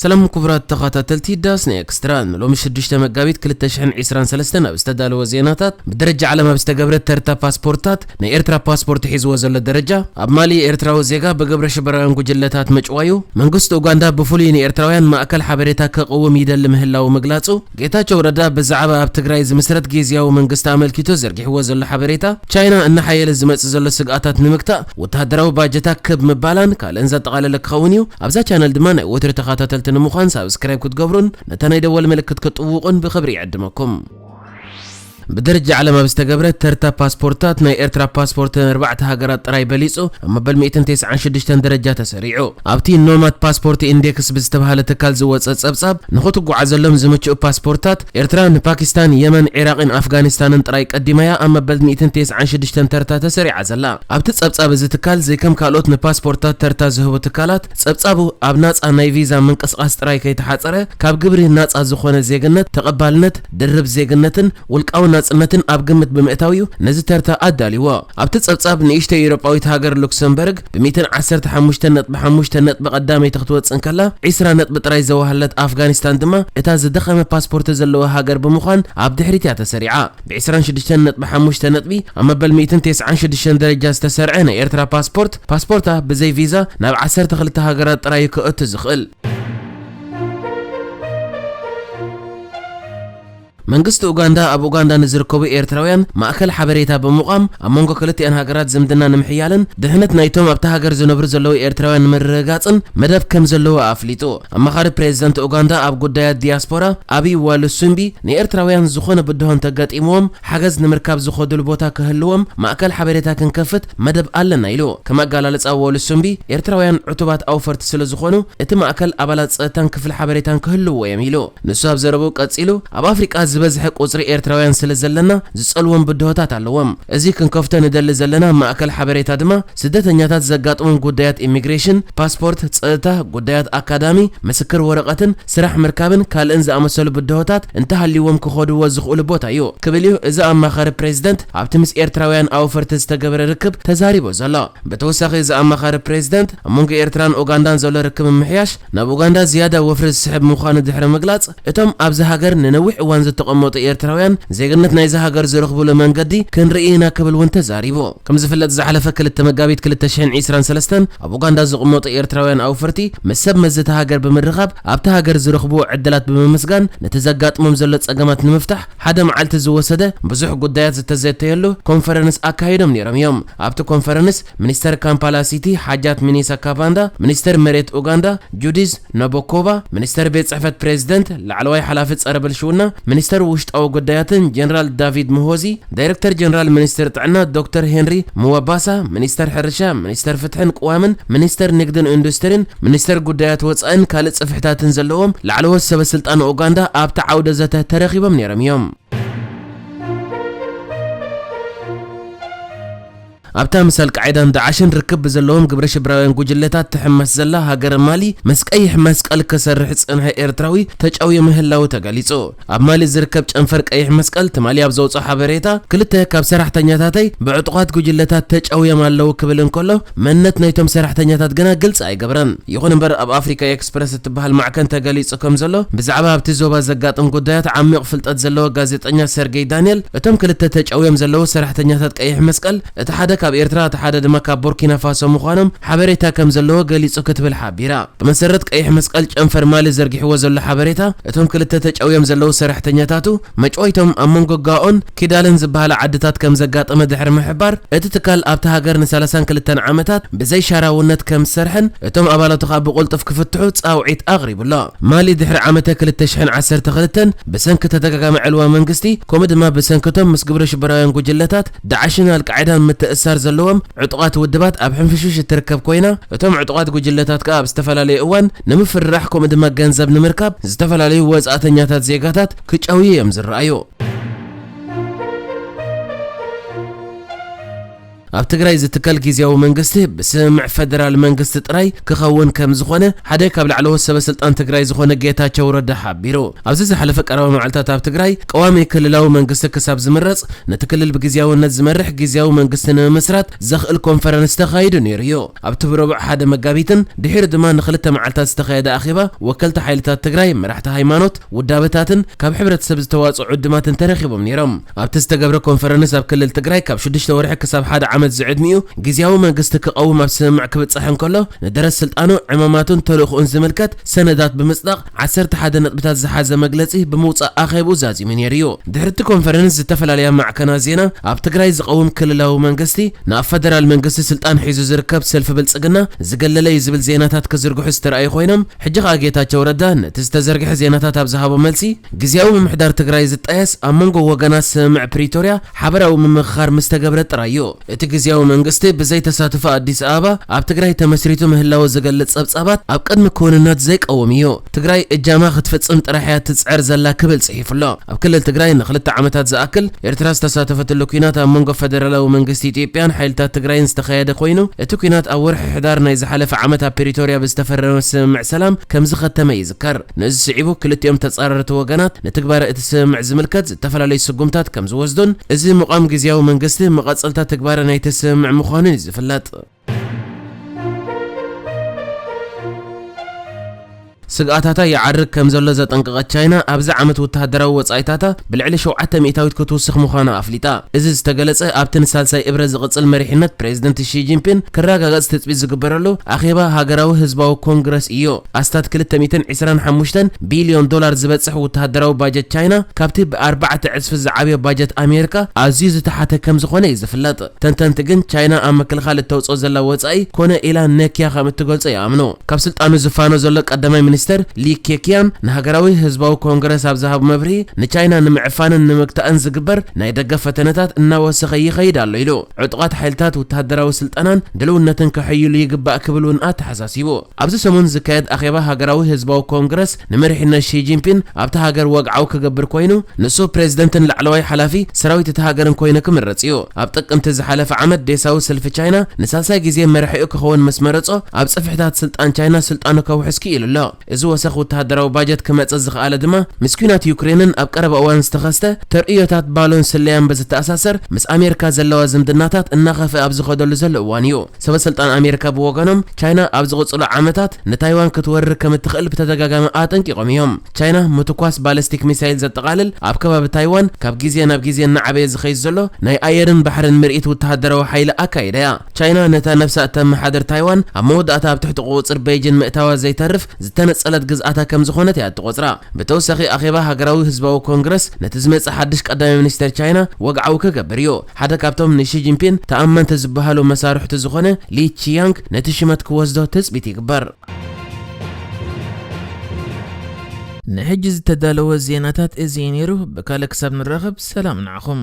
ሰላም ኩቡራት ተኻታተልቲ ዳስ ናይ ኤክስትራ ን ሎሚ ሽዱሽተ መጋቢት ክልተ ሽሕን ዒስራን ሰለስተን ኣብ ዝተዳለወ ዜናታት ብደረጃ ዓለም ኣብ ዝተገብረ ተርታ ፓስፖርትታት ናይ ኤርትራ ፓስፖርት ሒዝዎ ዘሎ ደረጃ ኣብ ማሊ ኤርትራዊ ዜጋ ብግብረ ሽበራውያን ጉጅለታት ምጭዋዩ መንግስቲ ኡጋንዳ ብፍሉይ ንኤርትራውያን ማእከል ሓበሬታ ከቕውም ይደሊ ምህላዉ ምግላጹ ጌታቸው ረዳ ብዛዕባ ኣብ ትግራይ ዝምስረት ጊዚያዊ መንግስቲ ኣመልኪቱ ዘርጊሕዎ ዘሎ ሓበሬታ፣ ቻይና እናሓየለ ዝመጽእ ዘሎ ስግኣታት ንምግታእ ወተሃደራዊ ባጀታ ክብ ምባላን ካልእን ዘጠቓለለ ክኸውን እዩ። ኣብዛ ቻነል ድማ ናይ ወትሩ ተኻታተልቲ ንምዃን ሳብስክራይብ ክትገብሩን ነታ ናይ ደወል ምልክት ክትጥውቑን ብኽብሪ ይዕድመኩም። ብደረጃ ዓለም ኣብ ዝተገብረ ተርታ ፓስፖርታት ናይ ኤርትራ ፓስፖርት ንኣርባዕተ ሃገራት ጥራይ በሊጹ ኣብ መበል ሚእትን ቴስዓን ሽዱሽተን ደረጃ ተሰሪዑ። ኣብቲ ኖማድ ፓስፖርት ኢንዴክስ ብዝተብሃለ ትካል ዝወጸ ጸብጻብ፣ ንኽትጉዓዘሎም ዝምችኡ ፓስፖርታት፣ ኤርትራ ንፓኪስታን፣ የመን፣ ዒራቕን ኣፍጋኒስታንን ጥራይ ቀዲማ'ያ ኣብ መበል ሚእትን ቴስዓን ሽዱሽተን ተርታ ተሰሪዓ ዘላ። ኣብቲ ጸብጻብ እዚ ትካል ዘይከም ካልኦት ንፓስፖርታት ተርታ ዝህቡ ትካላት፣ ጸብጻቡ ኣብ ናጻ ናይ ቪዛ ምንቅስቓስ ጥራይ ከይተሓጸረ፣ ካብ ግብሪ ናጻ ዝኾነ ዜግነት፣ ተቐባልነት፣ ድርብ ዜግነትን ውልቃዊ ናጽነትን ኣብ ግምት ብምእታው'ዩ ነዚ ተርታ ኣዳልይዎ። ኣብቲ ጸብጻብ፣ ንእሽቶይ ኤውሮጳዊት ሃገር ሉክሰምበርግ ብ ሚእትን ዓሰርተ ሓሙሽተን ነጥቢ ሓሙሽተ ነጥቢ ቀዳመይቲ ክትወጽእ እንከላ፣ ዕስራ ነጥቢ ጥራይ ዘዋህለለት ኣፍጋኒስታን ድማ እታ ዝደኸመ ፓስፖርተ ዘለዋ ሃገር ብምዃን ኣብ ድሕሪት'ያ ተሰሪዓ። ብ ዕስራን ሽዱሽተን ነጥቢ ሓሙሽተ ነጥቢ ኣብ መበል ሚእትን ተስዓን ሽዱሽተን ደረጃ ዝተሰርዐ ናይ ኤርትራ ፓስፖርት፣ ፓስፖርታ ብዘይ ቪዛ ናብ ዓሰርተ ክልተ ሃገራት ጥራይ'ዩ ከእቱ ዝኽእል። መንግስቲ ኡጋንዳ ኣብ ኡጋንዳ ንዝርከቡ ኤርትራውያን ማእከል ሓበሬታ ብምቛም ኣብ መንጎ ክልቲኣን ሃገራት ዝምድና ንምሕያልን ድሕነት ናይቶም ኣብታ ሃገር ዝነብሩ ዘለዉ ኤርትራውያን ንምርግጋጽን መደብ ከም ዘለዎ ኣፍሊጡ። ኣማኻሪ ፕሬዚዳንት ኡጋንዳ ኣብ ጉዳያት ዲያስፖራ ኣቢ ዋሉሱምቢ ንኤርትራውያን ዝኾነ ብድሆ እንተገጢምዎም ሓገዝ ንምርካብ ዝኸዱሉ ቦታ ክህልዎም ማእከል ሓበሬታ ክንከፍት መደብ ኣለና ኢሉ። ከም ኣገላልጻ ዎል ሱምቢ፣ ኤርትራውያን ዕቱባት ኣውፈርቲ ስለ ዝኾኑ፣ እቲ ማእከል ኣባላት ጸጥታን ክፍሊ ሓበሬታን ክህልውዎ እዮም ኢሉ። ንሱ ኣብ ዘረብኡ ቀጺሉ፣ ኣብ ኣፍሪቃ ዝበዝሐ ቁጽሪ ኤርትራውያን ስለ ዘለና ዝጸልዎም ብድሆታት ኣለዎም። እዚ ክንከፍቶ ንደሊ ዘለና ማእከል ሓበሬታ ድማ፣ ስደተኛታት ዘጋጥሞም ጉዳያት ኢሚግሬሽን፣ ፓስፖርት፣ ጸጥታ፣ ጉዳያት ኣካዳሚ፣ ምስክር ወረቐትን፣ ስራሕ ምርካብን ካልእን ዝኣመሰሉ ብድሆታት እንተሃልይዎም ክኸዱዎ ዝኽእሉ ቦታ እዩ ክብል እዩ እዚ ኣማኻሪ ፕሬዝደንት። ኣብቲ ምስ ኤርትራውያን ኣውፈርቲ ዝተገበረ ርክብ ተዛሪቡ ዘሎ። ብተወሳኺ እዚ ኣማኻሪ ፕሬዚዳንት፣ ኣብ መንጎ ኤርትራን ኡጋንዳን ዘሎ ርክብ ምምሕያሽ ናብ ኡጋንዳ ዝያዳ ወፍሪ ዝስሕብ ምዃኑ ድሕሪ ምግላፅ፣ እቶም ኣብዚ ሃገር ንነዊሕ እዋን ዝተቐመጡ ኤርትራውያን ዜግነት ናይዛ ሃገር ዝረኽቡሉ መንገዲ ክንርኢ ኢና ክብል እውን ተዛሪቡ። ከምዝፍለጥ ዝሓለፈ ክልተ መጋቢት ክልተ ሽሕን ዒስራን ሰለስተን ኣብ ኡጋንዳ ዝቕመጡ ኤርትራውያን ኣውፈርቲ ምስ ሰብ መዚ እታ ሃገር ብምርኻብ ኣብታ ሃገር ዝረኽብዎ ዕድላት ብምምስጋን ነቲ ዘጋጥሞም ዘሎ ፀገማት ንምፍታሕ ሓደ መዓልቲ ዝወሰደ ብዙሕ ጉዳያት ዝተዘተየሉ ኮንፈረንስ ኣካይዶም ነይሮም እዮም። ኣብቲ ኮንፈረንስ ሚኒስተር ካምፓላ ሲቲ ሓጃት ሚኒሳ ካቫንዳ፣ ሚኒስተር መሬት ኡጋንዳ ጁዲዝ ናቦኮቫ፣ ሚኒስተር ቤት ጽሕፈት ፕሬዝደንት፣ ላዕለዋይ ሓላፊ ጸረ ብልሽውና ሚኒስተር ውሽጣዊ ጉዳያትን ጀነራል ዳቪድ ሙሆዚ፣ ዳይረክተር ጀነራል ሚኒስትሪ ጥዕና ዶክተር ሄንሪ ምዋባሳ፣ ሚኒስተር ሕርሻ፣ ሚኒስተር ፍትሕን ቅዋምን፣ ሚኒስተር ንግድን ኢንዱስትሪን፣ ሚኒስተር ጉዳያት ወጻእን ካልእ ጽፍሕታትን ዘለዎም ላዕለዎት ሰበ ስልጣን ኡጋንዳ ኣብቲ ዓውደ ዘተ ተረኺቦም ነይሮም እዮም። ኣብታ ምስ ኣልቃዒዳን ዳዕሽን ርክብ ብዘለዎም ግብረ ሽብራውያን ጉጅለታት ትሕመስ ዘላ ሃገረ ማሊ ምስ ቀይሕ መስቀል ክሰርሕ ዝጸንሐ ኤርትራዊ ተጨውዩ ምህላዉ ተገሊጹ። ኣብ ማሊ ዝርከብ ጨንፈር ቀይሕ መስቀል ትማሊ ኣብ ዘውጽኦ ሓበሬታ፣ ክልተ ካብ ሰራሕተኛታተይ ብዕጡቓት ጉጅለታት ተጨውዮም ኣለዉ ክብል እንከሎ፣ መንነት ናይቶም ሰራሕተኛታት ግና ግልጺ ኣይገበረን። ይኹን እምበር ኣብ ኣፍሪካ ኤክስፕረስ እትበሃል ማዕከን ተገሊጹ ከም ዘሎ ብዛዕባ ኣብቲ ዞባ ዘጋጥም ጉዳያት ዓሚቕ ፍልጠት ዘለዎ ጋዜጠኛ ሰርጌይ ዳንየል፣ እቶም ክልተ ተጨውዮም ዘለዉ ሰራሕተኛታት ቀይሕ መስቀል፣ እቲ ሓደ ካብ ኤርትራ እቲ ሓደ ድማ ካብ ቦርኪናፋሶ ምዃኖም ሓበሬታ ከም ዘለዎ ገሊጹ ክትብል ሓቢራ። ብመሰረት ቀይሕ መስቀል ጨንፈር ማሊ ዘርጊሕዎ ዘሎ ሓበሬታ፣ እቶም ክልተ ተጨውዮም ዘለዉ ሰራሕተኛታቱ፣ መጭወይቶም ኣብ መንጎ ጋኦን ኪዳልን ዝበሃላ ዓድታት ከም ዘጋጠመ ድሕሪ ምሕባር፣ እቲ ትካል ኣብታ ሃገር ንሳላሳን ክልተን ዓመታት ብዘይሻራውነት ከም ዝሰርሐን እቶም ኣባላቱ ከኣ ብቕልጡፍ ክፍትሑ ጻውዒት ኣቕሪቡ ኣሎ። ማሊ ድሕሪ ዓመተ ክልተ ሽሕን ዓሰርተ ክልተን ብሰንኪ ተደጋጋሚ ዕልዋ መንግስቲ ከምኡ ድማ ብሰንኪ እቶም ምስ ግብረሽበራውያን ጉጅለታት ዳዕሽን ኣልቃዒዳን ምትእስሳር ዘለዎም ዕጡቓት ውድባት ኣብ ሕንፍሽፍሽ እትርከብ ኮይና፣ እቶም ዕጡቓት ጉጅለታት ከኣ ኣብ ዝተፈላለየ እዋን ንምፍርራሕ ከምኡ ድማ ገንዘብ ንምርካብ ዝተፈላለዩ ወጻእተኛታት ዜጋታት ክጨውዩ እዮም ዝረኣዩ። ኣብ ትግራይ ዝትከል ግዝያዊ መንግስቲ ብስምምዕ ፈደራል መንግስቲ ጥራይ ክኸውን ከምዝኾነ ሓደ ካብ ላዕለዎት ሰበስልጣን ትግራይ ዝኾነ ጌታቸው ረዳ ሓቢሩ። ኣብዚ ዝሓለፈ ቀረባ መዓልታት ኣብ ትግራይ ቀዋሚ ክልላዊ መንግስቲ ክሳብ ዝምረጽ ነቲ ክልል ብግዝያውነት ዝመርሕ ግዝያዊ መንግስቲ ንምምስራት ዘኽእል ኮንፈረንስ ተኻይዱ ነይሩ'ዩ። ኣብቲ ብረቡዕ ሓደ መጋቢትን ድሒሩ ድማ ንኽልተ መዓልታት ዝተኻየደ ኣኼባ፣ ወከልቲ ሓይልታት ትግራይ፣ መራሕቲ ሃይማኖት፣ ውዳበታትን ካብ ሕብረተሰብ ዝተዋጽኡ ዕዱማትን ተረኺቦም ነይሮም። ኣብቲ ዝተገብረ ኮንፈረንስ ኣብ ክልል ትግራይ ካብ ሽዱሽተ ወርሒ ክሳብ ሓደ ዓመት ዝዕድሚኡ ግዝያዊ መንግስቲ ክቐውም ኣብ ስምምዕ ክብጻሕ እንከሎ ንደረት ስልጣኑ፣ ዕማማቱን ተልእኹኡን ዝምልከት ሰነዳት ብምጽዳቕ ዓሰርተ ሓደ ነጥብታት ዝሓዘ መግለጺ ብምውጻእ ኣኼብኡ ዛዚሙ ነይሩ'ዩ። ድሕሪ'ቲ ኮንፈረንስ ዝተፈላለያ ማዕከናት ዜና ኣብ ትግራይ ዝቐውም ክልላዊ መንግስቲ ንኣብ ፈደራል መንግስቲ ስልጣን ሒዙ ዝርከብ ሰልፊ ብልጽግና ዝገለለ'ዩ ዝብል ዜናታት ክዝርግሑ ዝተራእዩ ኮይኖም ሕጂ ከኣ ጌታቸው ረዳ ነቲ ዝተዘርግሐ ዜናታት ኣብ ዝሃቦ መልሲ ግዝያዊ ምምሕዳር ትግራይ ዝጣየስ ኣብ መንጎ ወገናት ስምምዕ ፕሪቶርያ ሓበራዊ ምምኽኻር ምስ ተገብረ ጥራይ እዩ እቲ ግዝያዊ መንግስቲ ብዘይ ተሳትፎ ኣዲስ ኣበባ ኣብ ትግራይ ተመስሪቱ ምህላዉ ዝገልጽ ጸብጻባት ኣብ ቅድሚ ክዉንነት ዘይቀውም እዩ። ትግራይ እጃማ ክትፍጽም ጥራሕ እያ እትጽዕር ዘላ ክብል ጽሒፉ ኣሎ። ኣብ ክልል ትግራይ ንኽልተ ዓመታት ዝኣክል ኤርትራ ዝተሳተፈትሉ ኲናት ኣብ መንጎ ፈደራላዊ መንግስቲ ኢትዮጵያን ሓይልታት ትግራይን ዝተኻየደ ኮይኑ እቲ ኲናት ኣብ ወርሒ ሕዳር ናይ ዝሓለፈ ዓመት ኣብ ፕሪቶርያ ብዝተፈረመ ስምምዕ ሰላም ከምዝኸተመ ይዝከር። ነዚ ስዒቡ ክልቲኦም ተጻረርቲ ወገናት ንትግባረ እቲ ስምምዕ ዝምልከት ዝተፈላለዩ ስጉምታት ከም ዝወስዱን እዚ ምቛም ግዝያዊ መንግስቲ መቐጸልታ ትግባረ ናይቲ ስምምዕ ምዃኑን እዩ ዝፍለጥ። ስግኣታታ ይዓርግ ከም ዘሎ ዘጠንቀቐት ቻይና፣ ኣብዚ ዓመት ወተሃደራዊ ወጻኢታታ ብልዕሊ ሸውዓተ ሚእታዊት ክትውስኽ ምዃና ኣፍሊጣ። እዚ ዝተገለጸ ኣብቲ ንሳልሳይ እብረ ዝቕጽል መሪሕነት ፕረዚደንት ሺ ጂንፒን ክረጋገጽ ትጽቢት ዝግበረሉ ኣኼባ ሃገራዊ ህዝባዊ ኮንግረስ እዩ። ኣስታት ክልተ ሚእትን ዕስራን ሓሙሽተን ቢልዮን ዶላር ዝበጽሕ ወተሃደራዊ ባጀት ቻይና፣ ካብቲ ብኣርባዕተ ዕጽፊ ዝዓብዮ ባጀት ኣሜሪካ ኣዝዩ ዝተሓተ ከም ዝዀነ እዩ ዝፍለጥ። ተንተንቲ ግን፣ ቻይና ኣብ ምክልኻል እተውጽኦ ዘላ ወጻኢ ኰነ ኢላ ነክያ ከም እትገልጾ ይኣምኑ። ካብ ስልጣኑ ዝፋኖ ዘሎ ቀዳማይ ሚኒስተር ሊ ኬክያን ንሃገራዊ ህዝባዊ ኮንግረስ ኣብ ዝሃቦ መብርሂ፣ ንቻይና ንምዕፋንን ንምግታእን ዝግበር ናይ ደገ ፈተነታት እናወሰኸ ይኸይድ ኣሎ ኢሉ። ዕጡቓት ሓይልታት ወተሃደራዊ ስልጠናን ድልውነትን ከሐይሉ ይግባእ ክብል እውን ኣተሓሳሲቡ። ኣብዚ ሰሙን ዝካየድ ኣኼባ ሃገራዊ ህዝባዊ ኮንግረስ ንመሪሕነት ሺ ጂንፒን ኣብታ ሃገር ወግዓዊ ክገብር ኮይኑ፣ ንሱ ፕሬዚደንትን ላዕለዋይ ሓላፊ ሰራዊት እታ ሃገርን ኮይኑ ክምረጽ እዩ። ኣብ ጥቅምቲ ዝሓለፈ ዓመት ዴሳዊ ሰልፊ ቻይና ንሳልሳይ ግዜ መራሒኡ ክኸውን ምስ መረጾ፣ ኣብ ጽፍሕታት ስልጣን ቻይና ስልጣኑ ከውሕስ ክኢሉ ኣሎ። እዚ ወሰኽ ወተሃደራዊ ባጀት ክመጽእ ዝኸኣለ ድማ ምስ ኲናት ዩክሬንን ኣብ ቀረባ እዋን ዝተኸስተ ተርእዮታት ባሎን ስለያን ብዝተኣሳሰር ምስ ኣሜሪካ ዘለዋ ዝምድናታት እናኸፍኣ ኣብ ዝኸደሉ ዘሎ እዋን እዩ። ሰበስልጣን ኣሜሪካ ብወገኖም፣ ቻይና ኣብ ዝቕጽሉ ዓመታት ንታይዋን ክትወርር ከም እትኽእል ብተደጋጋሚ ኣጠንቂቖም እዮም። ቻይና፣ ምትኳስ ባለስቲክ ሚሳይል ዘጠቓልል ኣብ ከባቢ ታይዋን ካብ ግዜ ናብ ግዜ እናዓበየ ዝኸይድ ዘሎ ናይ ኣየርን ባሕርን ምርኢት ውተሃደራዊ ሓይሊ ኣካይዳ እያ። ቻይና ነታ ነብሳ እተመሓድር ታይዋን ኣብ መወዳእታ ኣብ ትሕቲ ቁጽጽር በይጂን ምእታዋ ዘይተርፍ ዝተነጸለት ግዝኣታ ከም ዝኾነት እያ እትቖጽራ። ብተወሳኺ ኣኼባ ሃገራዊ ህዝባዊ ኮንግረስ ነቲ ዝመጽእ ሓድሽ ቀዳማይ ሚኒስተር ቻይና ወግዓዊ ክገብር እዩ። ሓደ ካብቶም ንሺ ጂንፒን ተኣመንቲ ዝበሃሉ መሳርሕቱ ዝኾነ ሊ ቺያንግ ነቲ ሽመት ክወስዶ ትጽቢት ይግበር። ንሕጂ ዝተዳለወ ዜናታት እዚ እዩ ነይሩ፣ ብካልእ ክሳብ ንራኸብ ሰላም ንዓኹም።